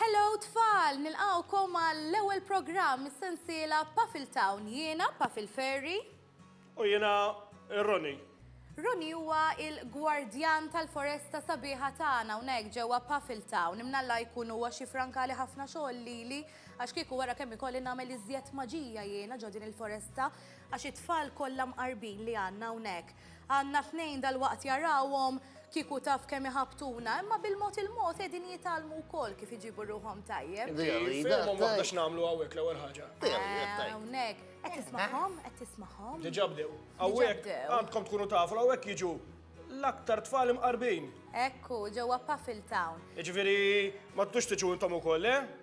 Hello tfal! Nilqgħukom għall-ewwel programm mis-sensiela Puffle Town. Jiena Puffle Ferri. U jiena Ronnie. Ronnie huwa l-gwardjan tal-foresta sabiħa tagħna hawnhekk ġewwa Puffle Town. Imnalla jkun huwa xi frankali ħafna xogħol lili għax kieku wara kemm ikolli nagħmel iżjed maġija jiena ġo din il-foresta Għax it-tfal kollha mqarbin li għandna hawnhekk, għandna tnejn dalwaqt jarawhom, kieku taf kemm iħabbtuna, imma bil-mod il-mod qegħdin jitgħallmu wkoll kif iġibu ruħhom tajjeb. Inti fehmhom waħda x'nagħmlu hawnhekk l-ewwel ħaġa. Hawnhekk. Qed tismagħhom? Qed tismagħhom? Diġà bdew. Hawnhekk għandkom tkunu tafu li hawnhekk jiġu l-aktar tfal imqarbin. Hekk hu, ġewwa Puffletown. Jiġifieri ma tridux tiġu intom ukoll, le?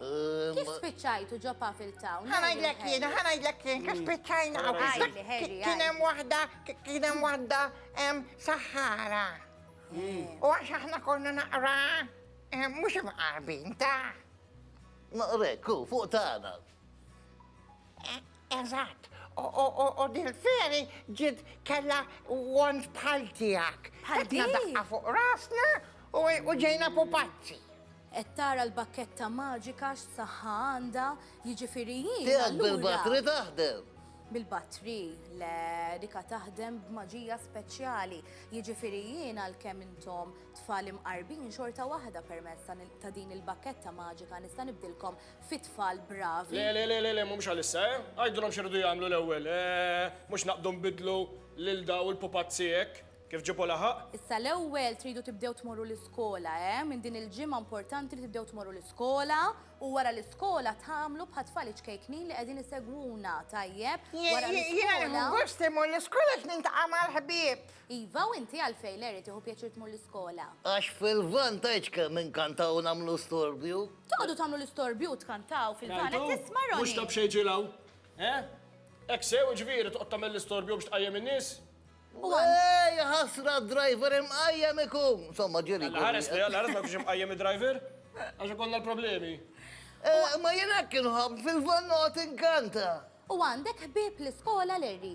Kif spiċċajtu ġo Puffle Town? Ħa ngħidlek jien, ħa ngħidlek jien, kif spiċċajna hawn. Għidli, Harry, Kien hemm waħda, kien hemm waħda hemm Sahara. Hmm. U għax aħna konna naqra mhux imqarbin ta' Naqrek, hu, fuq tagħna. Eżatt, u dil-feri ġid kella wand bħal tiegħek. Bħal din? Daqqa fuq rasna u ġejna pupazzi. Qed tara l-bakketta maġika x'saħħa għandha, jiġifieri jien. Tiegħek bil-batri taħdem? Bil-batri, le, dika taħdem b'maġija speċjali. Jiġifieri jien għalkemm intom tfal imqarbin xorta waħda permezz ta' din il-bakketta maġika nista' nibdilkom fi tfal bravi. Le, le, le, le, le, mhumiex għalissa, eh? Għidulhom x'iridu jagħmlu l-ewwel, eh, mhux naqbdu nbiddlu lil daw il-pupazzi hekk, kif ġipu laħaq. Issa l-ewwel tridu tibdew tmorru l-iskola, eh? Minn din il-ġimgħa importanti li tibdew tmorru l-iskola u wara l-iskola tagħmlu bħat-tfal iċ-ċkejknin li qegħdin isegwuna, tajjeb? Wara l-iskola. Jiena nieħu gost imur l-iskola għax niltaqa' mal-ħbieb. Iva, u inti għalfejn, Larry, tieħu pjaċir tmur l-iskola? Għax fil-vantaġġ kemm inkantaw nagħmlu storbju. Toqgħodu tagħmlu l-istorbju u tkantaw fil-van, qed tisma' Ronnie! Mhux ta' b'xejn ġiel hawn, eh? Hekk sew, jiġifieri, toqgħod tagħmel l-istorbju biex tqajjem in-nies? Ej, ja ħasra, d-driver imqajjem ikun! Insomma, ġieli. Alla ħares li, alla ħares ma jkunx imqajjem id-driver? Għax ikollna l-problemi. Imma jien hekk inħobb, fil-van noqgħod inkanta! U għandek ħbieb l-iskola, Larry?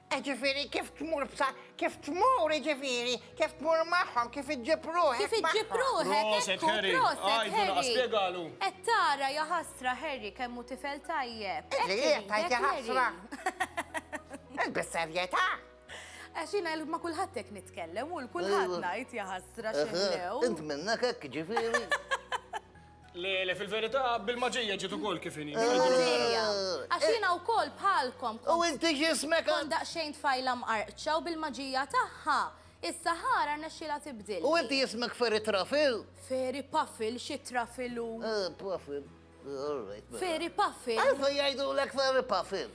Jiġifieri kif tmur b'sa, kif tmur jiġifieri, kif tmur magħhom, kif iġġib ruħek. Kif iġġib ruħek. Proset Harry, għidu laqas spjegalu. Qed tara ja ħasra Harry kemm hu tifel tajjeb. Ejjek tajt ja ħasra. Ilbis serjetà. Għax jiena ma kulħadd hekk nitkellem u l-kulħadd ngħid ja ħasra x'inlew. Int minnha hekk jiġifieri. Le, le, fil-verità, bil-maġija ġiet ukoll kif inhi. Bil-maġija. Għax jiena wkoll bħalkom kont. U inti x'ismek? Kont daqsxejn tfajla mqarqċa u bil-maġija tagħha, is-Sahara rnexxielha tibdilni. U inti ismek Fairy Truffle? Fairy Puffle, xi truffle hu? Ah, Puffle. All right, mela. Fairy Puffle. Għalfejn jgħidulek Fairy Puffle?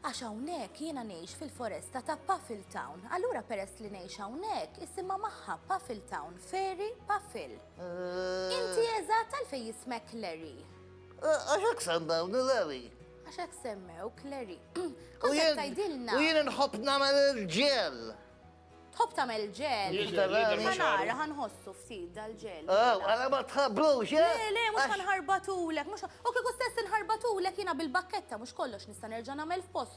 Għax hawnhekk jiena ngħix fil-foresta ta' Puffletown. Allura peress li ngħix hawnhekk, isimha magħha Puffletown, Fairy Puffle. Inti eżatt għalfejn jismek Larry? Għax hekk semmewni Larry. Għax hekk semmew Larry. Kont tgħidilna. U jien nħobb nagħmel il-ġel. Tħobb tagħmel ġel. Ħanara ħanħossu ftit dal-ġel. Ah, għala ma tħabrux, eh? Le, le, mhux ħanħarbatulek, mhux. U kieku stess inħarbatulek jiena bil-bakketta mhux kollox nista' nerġa' nagħmel f'post.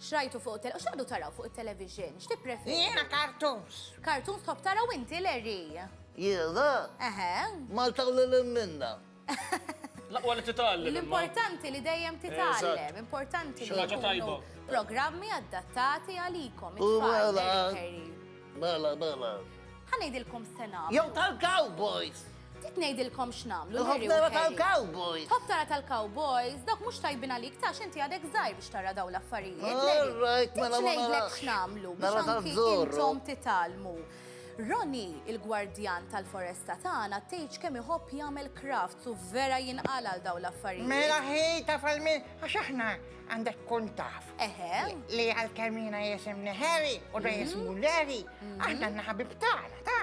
X'rajtu fuq it-tele, u x'qegħdu taraw fuq it-television? X'tippreferi? Jiena cartoons. Cartoons tħobb tara u inti, Larry? Jiena? Eħe. Malta u lil hinn minnha. L-aqwa li titgħallem imma. L-importanti li dejjem titgħallem, importanti li jkunu programmi adattati għalikom, it-tfal, Larry u Harry. Mela, mela. Ħa ngħidilkom x'se nagħmlu. Jew tal-cowboys! Ftit ngħidilkom x'nagħmlu. Nħobb nara tal-cowboys. Tħobb tara tal-cowboys, dawk mhux tajbin għalik tax inti għadek żgħir biex tara dawn l-affarijiet. Alright, mela ma ngħidlek x'nagħmlu biex anki intom titalmu. Roni, il-gwardjan tal-foresta tagħna, tgħidx kemm iħobb jagħmel crafts u vera jinqal għal dawn l-affarijiet. Mela ħi taf għal min għax aħna għandek tkun taf. Eħe. Li għal-kemina jisimni Harry u da mhm. jismu Larry, mhm. aħna naħabib tagħna, ta'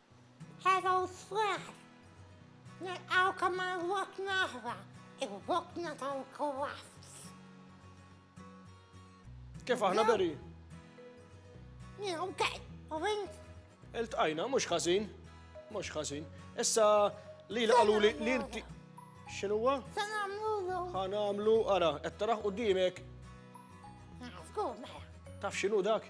Hello Square! Nilqawkom għal wokna oħra, il-wokna tal-Kowaffs. Kif aħna beri? Jien, okej, u int? Iltqajna, mhux ħażin, mhux ħażin. Issa li l-qalu li l-inti. X'inhuwa? Se nagħmlu. Ħa nagħmlu, ara, qed taraħ qudiemek. Naħsbu, mela. Taf x'inhu dak?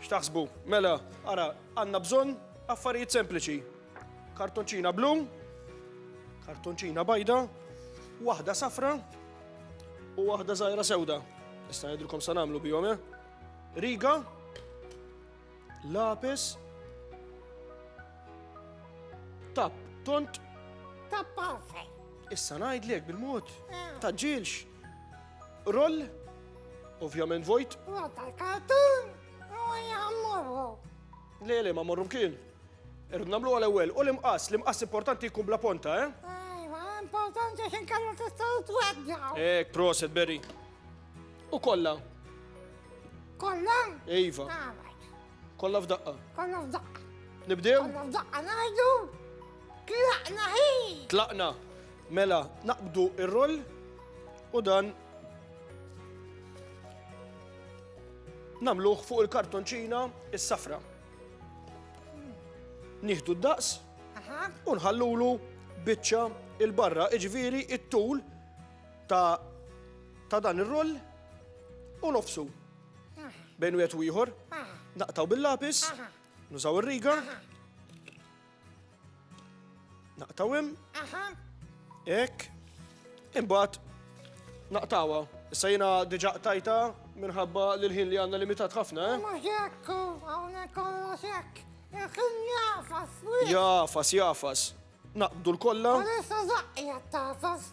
X'taħsbu? Mela, ara, għandna bżonn affarijiet sempliċi. Kartonċina blu, kartonċina bajda, waħda safra u waħda żgħira sewda. Issa ngħidilkom sa nagħmlu bihom, eh? Riga, lapis, tap, tont, Tappa fej. issa ngħidlek bil-mod, taġġilx. Roll, ovvjament vojt. Għadda l-kartun, u jgħammurru. Le, le, ma morru mkien. Irrid namlu għal ewwel u l-imqas, l-imqas importanti jkun bla ponta, eh? Ejwa, importanti għax inkallu tistgħu tweġġaw. Ek, proset, Berry. U kollha. Kollha? Iva. Għamel. Kollha f'daqqa. Kollha f'daqqa. Nibdew? Kollha f'daqqa ngħidu. Tlaqna hi. Tlaqna. Mela, naqbdu ir-roll u dan namluħ fuq il-kartonċina is-safra. Nieħdu d-daqs u nħallulu biċċa il-barra, iġviri it-tul ta' dan ir-roll u nofsu. bejn wieħed u ieħor, naqtaw bil-lapis, nużaw ir-riga, naqtaw hemm, hekk, imbagħad naqtawha. Issa jiena diġà qtajta minħabba li l-ħin li għandna limitat ħafna, eh? Mhux hekk, hawnhekk kollox hekk. Il-ħin jafas, Jafas, jafas. Naqbdu l-kollha. Għalissa zaqqi tafas.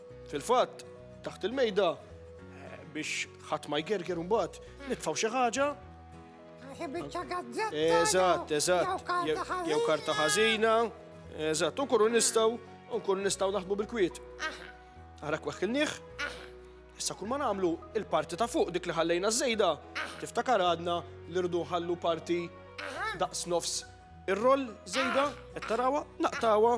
Fil-fatt, taħt il-mejda, biex ħadd ma jgerger mbagħad nitfgħu xi ħaġa. Eżatt, eżatt. Jew karta ħażina. Eżatt, u nkunu nistgħu, u nkunu nistgħu naħdmu bil-kwiet. Ara kweħkilnieh. Issa kull ma nagħmlu il-parti ta' fuq dik li ħallejna żejda, tiftakar għadna li rdu ħallu parti daqs nofs ir-roll żejda, qed tarawha, naqtawha.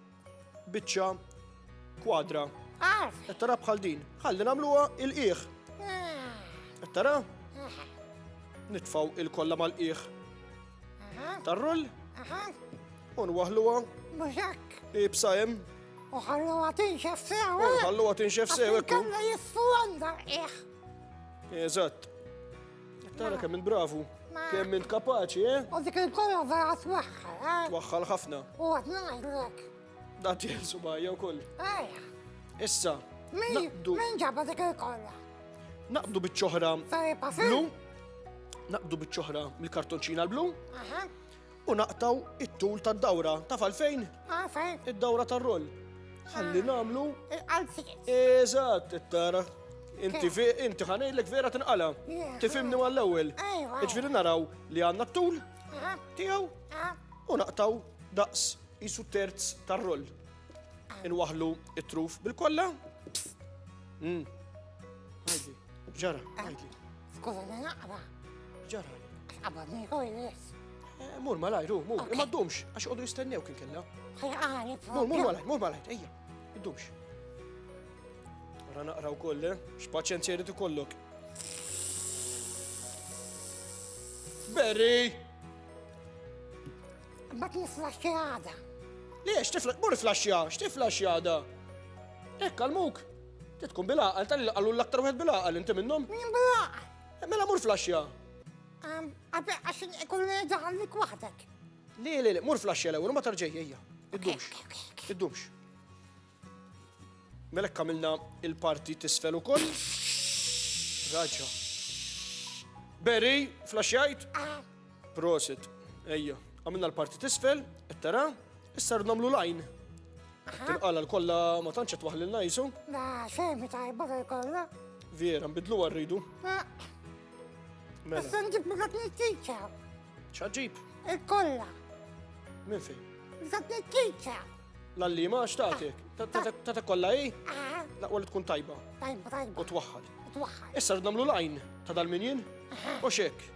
biċċa kwadra. Qed tara bħal din. Ħalli nagħmluha il-qiegħ. Qed tara? Nitfaw il-kollha mal-qiegħ. Tarrull? U nwaħluha. Mużak. Ibsa hemm. U ħalluha tinxef sew. U eh? ħalluha tinxef sew. Kalla jiffu għandha qiegħ. Eżatt. Tara kemm il-bravu, kemm int kapaċi, eh? U dik il-kolla vera twaħħal, eh? Twaħħal ħafna. U għad naħdlek. Da tjelsu bajja u koll. Ejja. Issa. Min ġabba dik il-kolla? Naqdu bieċoħra. Blu. Naqdu bieċoħra mill-kartonċina l-blu. U naqtaw it-tul tad-dawra. Taf għalfejn? Għalfejn? Id-dawra tar-roll. Ħalli nagħmlu. Il-qalziet. Eżatt, tara. Inti fi, inti ħanejlek vera tinqala. Tifimni għall-ewwel. Iġviri naraw li għandna t-tul tiegħu u naqtaw daqs isu terz tar-roll. Inwaħlu it-truf bil-kollha. Ġara, għajdi. Skuża li naqra. Ġara. Qabad nieħu jis. Eh, mur malaj, ru, mur. Ma ddumx, għax għodu jistennew kien kella. Ħajqani, Mur, mur malaj, mur malaj, ejja. Ddumx. Ra naqra u koll, eh? x'paċenzja jrid ikollok. Berry! Ma tiflax għada. Liex, tiflax, mur flaxja, x'tiflax għada? Ekk, għal-muk. Ti tkun bil-għaqal, tali li qalu l-aktar wieħed bil-għaqal inti minnhom? Min bil-għaqal? Eh, mela mur flaxja. Għabbe, għax ikun li daħallik waħdek. Li, li, li, mur flaxja l-ewwel, ma tarġej, ejja. Iddumx. Iddumx. Mela kamilna il-parti tisfel ukoll. Raġa. Berry, flaxjajt? Ah. Prosit. Ejja, għamilna l-parti tisfel, qed tara, issa rrid nagħmlu lajn. Tinqala l-kollha ma tantx qed waħlilna jisu. Da, xejn tajba kollha. Vera, nbidlu rridu. Mela. Issa nġib dak nittiċa. ċaġib? Il-kolla. Min fi? Dak nittiċa. Lalli ma xtaqtek. Ah. Tata kolla i? Ah. La għalli tkun tajba. Tajba, tajba. U twaħħal. Twaħħal. Issa namlu lajn ta' dal-minjien. U xek.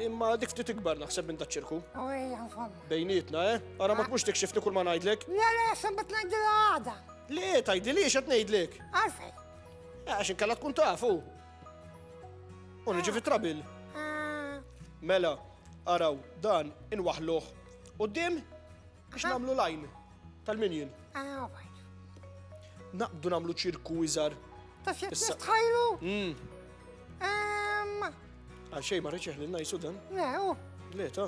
Imma dik ftit ikbar naħseb minn daċ-ċirku. U hija nfomma. Bejnietna, eh? Ara ma tmux tikxifni kull ma ngħidlek. Le, le, sembet ngħidilha għada. Le, tgħidili x'qed ngħidlek. Għalfej. Eh, għax inkella tkun tafu. U niġi fit-trabil. Ah. Mela, araw, dan inwaħluh. U dim Biex nagħmlu lajn tal-minjin. Ah, Naqbdu nagħmlu ċirku iżar. Ta' xi tħajlu? Mm. Għal xejn ma reċeħ lil najsu dan? Le, u. Le, ta.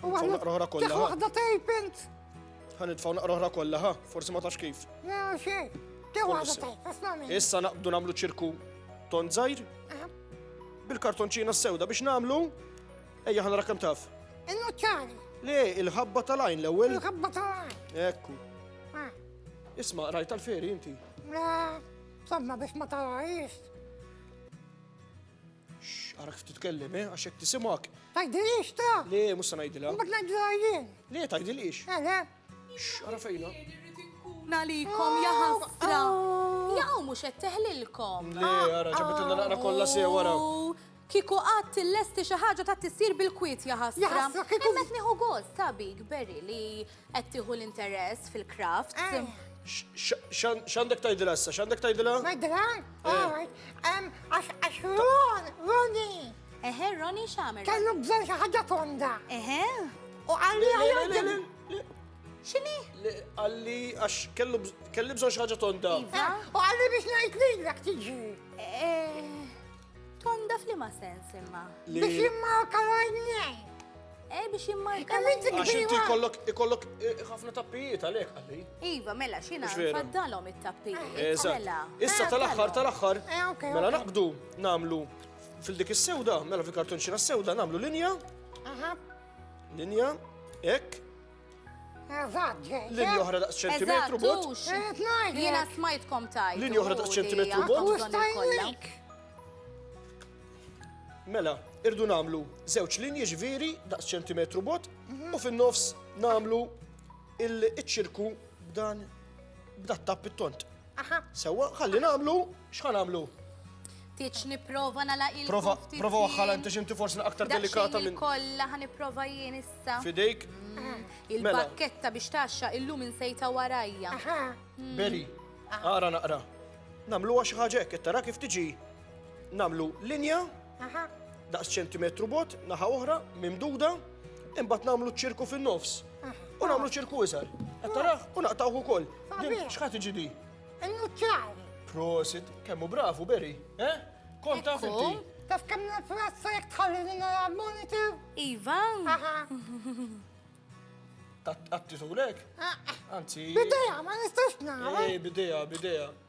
U għahna naqroħra kollha. Waħda tejpint. Ħan nitfaw naqroħra kollha, ha? Forsi ma tax kif. Le, u xejn. Issa naqbdu nagħmlu ċirku ton żgħir bil-kartonċina s-sewda biex nagħmlu Ejja ħa nara kemm taf. Il-nuċċari. Le, il-ħabba tal-għajn l-ewwel. Il-ħabba tal-għajn. Ekku. Ah. Isma' rajt tal-feri inti. Le, somma biex ma tarajx. X'għarak ftit tkellem, eh, għax hekk tisimak. Tajdilix ta? Le, mhux se ngħidilha. Mbagħad ngħidilha jien. Le, tajdilix. Eh, le. X'għara fejna? Nalikom ja ħasra. Jaw mhux qed teħlilkom. Le, għara ġabitilna naqra kollha sew wara. Kieku qatt tillesti xi ħaġa ta' tissir bil-kwiet ja ħasra. Imma qed nieħu gost ta' bik Berry li qed tieħu l-interess fil-craft. X'għandek tgħidilha issa? X'għandek tgħidilha? Ngħidilha? Għax Ron, Roni. Eħe, Roni x'għamel? Kellu bżonn xi ħaġa tonda. Eħe. U għalli għalli. X'inhi? Għalli għax kellu kelli bżonn xi ħaġa tonda. Iva. U għalli biex ngħid lilek tiġi. Eh. Tonda f'liema sens imma? Biex jimmarka l-għajnejn. Eh, biex jimmarka l-għajnejn. Għax inti kollok, kollok eh, ħafna tappijiet għalek, għalli. Iva, mela, xina, faddalom it-tappijiet. Eh, eżatt. Mela. Issa eh, tal-axħar, tal-axħar. Mela naqbdu, namlu fil-dik is-sewda, mela fil-kartonċina s-sewda, namlu linja. Aha. Linja, ek, Linja oħra daqs ċentimetru bot. Jiena smajtkom tajt. Linja oħra daqs ċentimetru bot. Mela, irdu namlu żewġ linji ġviri daqs ċentimetru bot u fin-nofs namlu il-ċirku b'dan b'dat tapp it-tont. Aha. Sewwa, ħalli nagħmlu, x'ħa nagħmlu? Tiċ nipprova nagħlaq il Prova, prova waħħal inti x'inti forsi aktar delikata minn. Kollha ħa nipprova jien issa. Fidejk. Mm. Il-bakketta mela. biex taxxa illum insejta warajja. Mm. Beri, ara naqra. Namluha xi ħaġa hekk, tara kif tiġi. Namlu linja, daqs ċentimetru bot, naħa oħra, mimduda, imbagħad namlu ċirku fin-nofs. U namlu ċirku iżgħar. Qed taraħ u naqtawh ukoll. X'ħadd iġi di? Innuċċari. Prosit, kemmu bravu Beri, eh? Kont taf inti. Taf kemm nifrassa jekk tħalli li nara monitor? Iva. Aha. Għatti tulek? Ah, ah. Anzi. Bideja, ma nistax nara. Eh, bideja, bideja.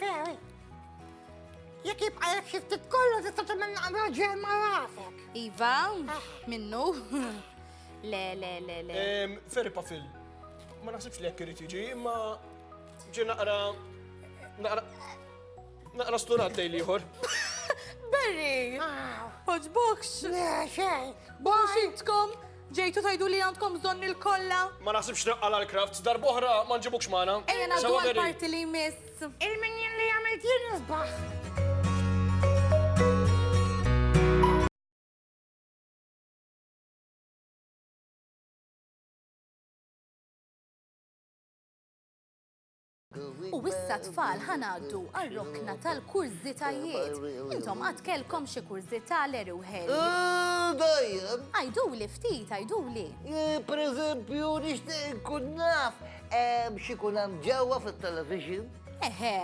Ferri, jekk jibqa' jekk xi ftit kollu tista' tagħmel naqra ġel ma' rafek. Iva, ah. minnu. Le, le, le, le. Ferri Pafil, ma naħsibx li jekk irid jiġi, imma ġi naqra naqra naqra sturat lejn ieħor. Berri! Ħoġbokx! Le, xejn! Bositkom! Ġejtu tgħidu li għandkom bżonni lkollha? Ma naħsibx naqqa' l-Crafts, darb'oħra ma nġibukx magħna. Ejja ngħaddu għall-parti li jmiss. Il-minjin li għamilt jien isbaħ! U issa tfal ħanaddu għal-rokna tal-kurżitajiet. Intom għad kelkom xi kurżità l u ħeli. Dajjem. Għajdu li ftit, għajdu li. Per eżempju, nixtieq nkun naf xi kun hemm ġewwa fit-television. Eħe.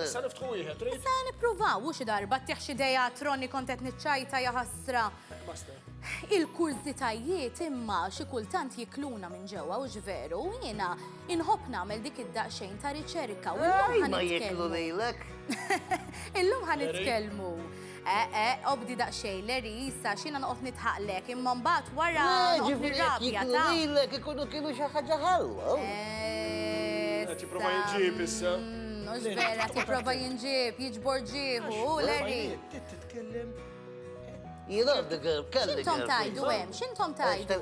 Issa niftħu wieħed, trid? Issa nippruvaw u xi darba tieħ xi dejja troni kont qed niċċajta jaħasra. Il-kurżitajiet imma xi kultant jikluna minn ġewwa u ġveru, jiena Inħobb nagħmel dik id-daqsxejn ta' riċerka u llum ħa jieklu lilek. Illum ħa nitkellmu. Eh, eh, obdi daqsxejn l-erisa xina noqgħod nitħaqlek imma mbagħad wara ġifieri rabja ta' lilek ikunu kienu xi ħaġa ħalwa. Eh, tipprova jinġib issa. Mhux mm, vera, tipprova jinġib, jiġbor ġiebu, l-eri. Jiena għandi kelli. X'intom tajdu hemm? X'intom tajdu?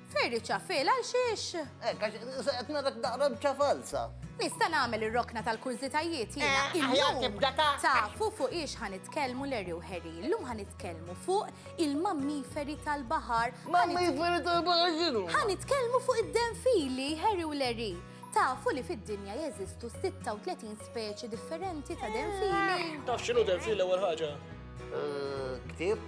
Ferri ċafil għal xiex? Ekk, għax qed narak daqra bċa falsa. Nista' nagħmel ir-rokna tal-kurżitajiet jiena. Eh, aħjar tibda ta'. Tafu fuq ix ħanitkellmu Larry u Harry. Illum ħanitkellmu fuq il-mammiferi tal-baħar. Mammiferi tal-baħar x'inhu? Ħanitkellmu fuq id-denfili Harry u Larry. Tafu li fid-dinja jeżistu 36 speċi differenti ta' denfili. Eh. Taf x'inhu denfili l-ewwel ħaġa? Eh, Ktib?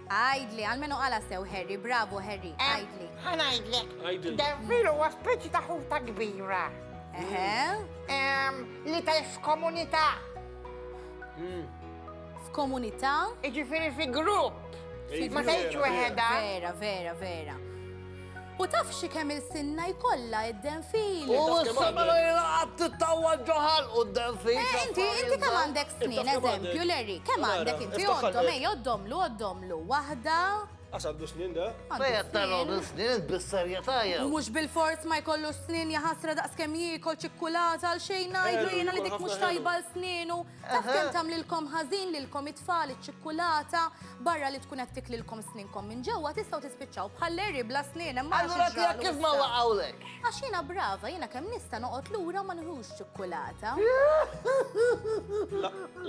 Għidli, almenu qala sew Harry, bravo Harry, għidli. Ħa ngħidlek. Għidli. Denfil huwa speċi ta' ħuta kbira. Eħe. Em, Li ta' f'komunità. F'komunità? Iġifieri fi grupp. Fi Ma tgħidx grupp, weħedha. Vera, vera, vera. U taf xi kemm ilsinna jkollha id-denfil? U s-samarajra qatt tittawwal ġo ħalqu d-denfil. Eh, inti, inti kemm għandek snin, eżempju, Larry, kemm għandek inti? Għoddhom, ej, għoddhomlu, għoddhomlu. Waħda. Għax għandu snin da. Fejn qed tara għandu snin, int bis-serjetà jew? U mhux bilfors ma jkollux snin, jaħasra daqs kemm jiekol ċikkulata, għalxejn ngħidlu jiena li dik mhux tajba għal snienu. Taf kemm tagħmlilkom ħażin lilkom it-tfal iċ-ċikkulata barra li tkun qed tiklilkom sninkom minn ġewwa tistgħu tispiċċaw bħal Larry bla snien hemm mara Allura tiegħek kif ma waqgħulek? Għax jiena brava, jiena kemm nista' noqgħod lura ma nħux ċikkulata.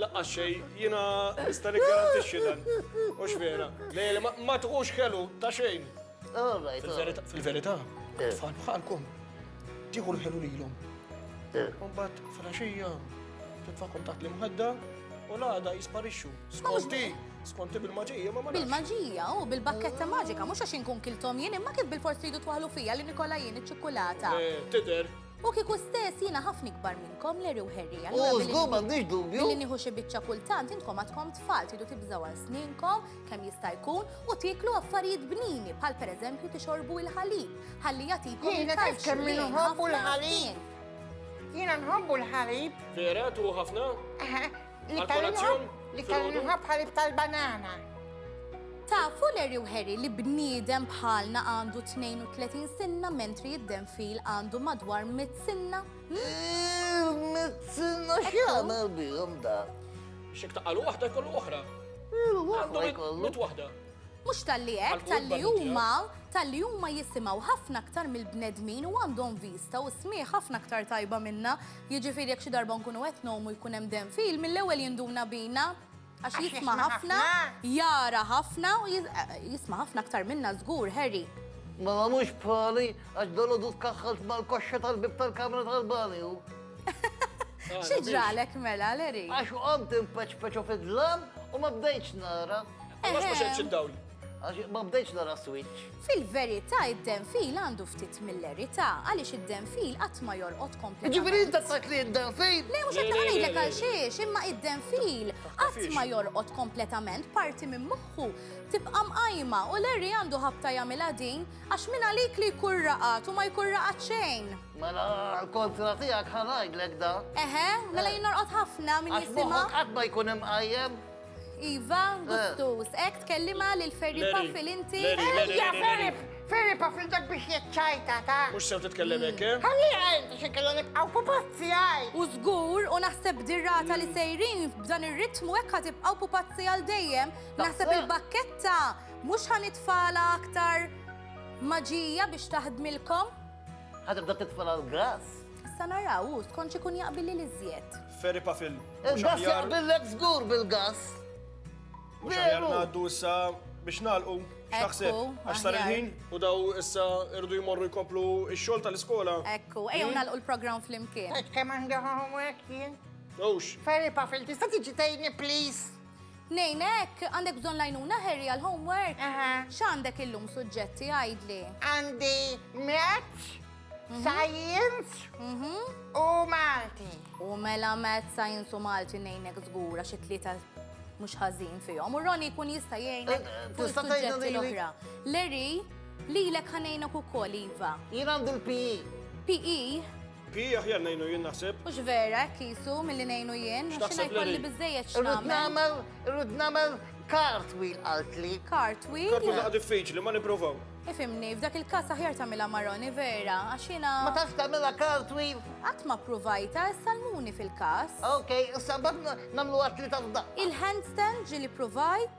Laqqa xej, jiena nista' nikgarantixxi dan. Mhux vera. Lejli ma tħux kelu ta' xejn. Fil-verità, tfal bħalkom, tieħu l-ħelu lilhom. Umbat, fil-axija, titfa' kontat li mħadda, u l-għada jisparixxu. Skonti, skonti bil-maġija, ma marriċ. Bil-maġija, u bil-bakketta maġika, mux għax inkun kiltom jien, imma kif bil-fors tridu twaħlu fija li Nikola jien iċ-ċikkulata. Eh, tider. U kiku stess jina ħafna ikbar minnkom l u Herri. U zgub għandix dubju. Li nieħu xi biċċa kultant intkom għadkom tfal tridu tibżaw għal sninkom kemm jista' jkun u tieklu affarijiet bnini bħal pereżempju tixorbu il-ħalib ħalli jagħtikom il-kalċju li nħobbu l-ħalib. Jiena nħobbu l-ħalib. Vera tu ħafna? Li tal-inħobb li tal-inħobb ħalib tal-banana. Tafu Larry u Harry li bniedem bħalna għandu 32 sinna mentri id-denfil għandu madwar mit sinna? Mit sinna xjana bihom da. Xek taqalu waħda kollu oħra. Għandhom il-mut waħda. Mux tal-li ek, tal-li huma, tal-li huma jisimaw ħafna aktar mill-bnedmin u għandhom vista u smieħ ħafna aktar tajba minna. Jiġifieri jekk xi darba nkunu qed nomu jkun hemm dem fil, mill-ewwel jinduna bina għax jisma' ħafna, jara ħafna u jisma' ħafna aktar minna żgur, Harry. Ma mhux bħali għax dolodu tkaħħalt mal-koxxa tal-bib tal-kamra tal-banju. Xi ġralek mela, Leri? Għax għomt impeċpeċu fid-dlam u ma bdejċ nara. Għax ma xedċ id-dawl. Għax ma bdejċ nara switch. Fil-verità id-denfil għandu ftit mill-erità għaliex id-denfil qatt ma jorqod kompletament. Ġifieri inta tajt li id-denfil. Le mhux qed ngħidlek għal xiex, imma id-denfil qatt ma jorqod kompletament parti minn moħħu tibqa' mqajma u Leri għandu ħabta jagħmilha din għax minn għalik li jkun raqat u ma jkun raqat xejn. Mela, għal-kontra tijak ħanajdlek da. Eħe, mela eh. jien norqod ħafna minn jisima. Għax qatt ma jkun imqajjem. Iva, eh. gustus, ek tkellima lil Ferri Paffil inti. Ejja, Ferri, Ferri Paffil dak biex jitċajta ta. Mux sew titkellem hekk, eh? Ħalli għajn, xe kellha nibqgħu pupazzi għaj. U żgur u naħseb dirrata li sejrin b'dan ir-ritmu hekk ħa tibqgħu pupazzi għal dejjem. Naħseb il-bakketta mhux ħanitfala aktar maġija biex taħdmilkom. Ħa tibda titfa' l-grass. Issa naraw hu skont x'ikun jaqbilli li żjed. Ferri pafil. Il-gass jaqbillek żgur bil-gass. Mhux aħjar ngħaddu issa biex nagħlqu x'taħseb għax sar il-ħin u daw issa irdu jmorru jkomplu x-xogħol tal-iskola. Ekku, ejjew hmm? nagħlqu l-programm flimkien. Qed kemm għandhom hekk jien. Ux. Ferri pafil, tista' tiġi tgħidni please? Ngħinek, għandek bżonn l-għajnuna Harry għall-homework? Aha. X'għandek illum suġġetti għidli? Għandi Maths, mhm. Science mhm. u Malti. U mela Maths, Science u Malti ngħinek żgura xi tlieta mhux ħażin fihom. U Ronnie jkun jista' jgħinek eh, eh, fuq suġġetti l-oħra. Larry, lilek ħanejnek ukoll iva. Jien għandu l-PE. PE? Pi aħjar ngħinu jien naħseb. Hux vera hekk qisu milli ngħinu jien, għax jiena jkolli biżejjed x'nagħmel. Irrid nagħmel cartwheel qaltli. Cartwheel? Cartwheel naqa' diffiċli, ma nipprovaw. Ifimni, f'dak il-każ aħjar tagħmilha maroni vera, għax jiena. Ma tafx tagħmilha cartwheel? Qatt ma ppruvajta, salmuni fil-każ. Ok, issa mbagħad nagħmlu għatli tal-daqqa. Il-handstand ġieli provajt?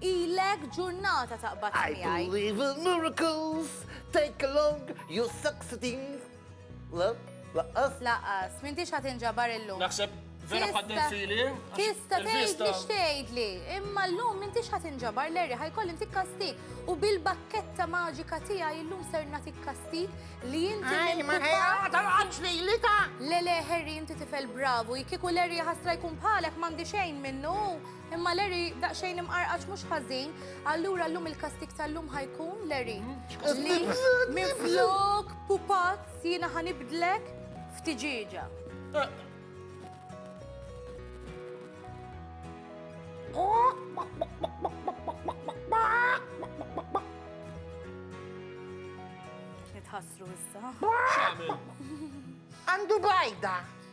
Ilek ġurnata taqbad miegħi. I believe in miracles, take along your succeeding. Le, laqqas? Laqqas, m'intix ħa tinġabar illum. Naħseb vera bħaddel fili. Tista' tgħid li xtgħidli, imma llum m'intix ħa tinġabar l-erri ħajkoll intik kastik. U bil-bakketta maġika tiegħi illum ser nagħtik kastik li inti. Ej, ma ħejqax li li ta'. Le le, Harry, inti tifel bravu, jkiku l-erri ħasra jkun bħalek m'għandi xejn minnu. Imma Larry, daqxejn imqarqax mhux ħażin, allura llum il-kastik tal-lum ħajkun Larry. Mm, li minn flok pupazz jiena ħanibdlek f'tiġieġa. Nitħassru issa. Għandu bajda.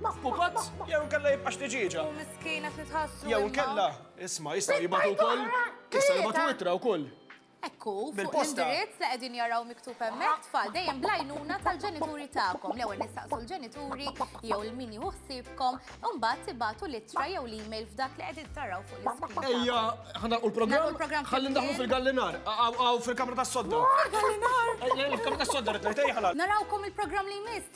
Ma f'pupazz, jew kella jibqax tiġiġa. U miskina xi tħassu. Jew kella, isma, jista' jibatu wkoll. Jista' jibatu itra wkoll. Ekku, fuq l-indirizz li qegħdin jaraw miktub hemmhekk tfal dejjem blajnuna tal-ġenituri tagħkom. L-ewwel nistaqsu l-ġenituri jew il-min jieħu ħsiebkom, u mbagħad tibatu l-ittra jew l-email f'dak li qegħdin taraw fuq l-iskrin. Ejja, ħana u l-programm ħalli ndaħlu fil-gallinar, għaw fil-kamra tas-sodda. Gallinar! Il-kamra tas-sodda rid ngħid ejja ħalal. Narawkom il-programm li jmiss.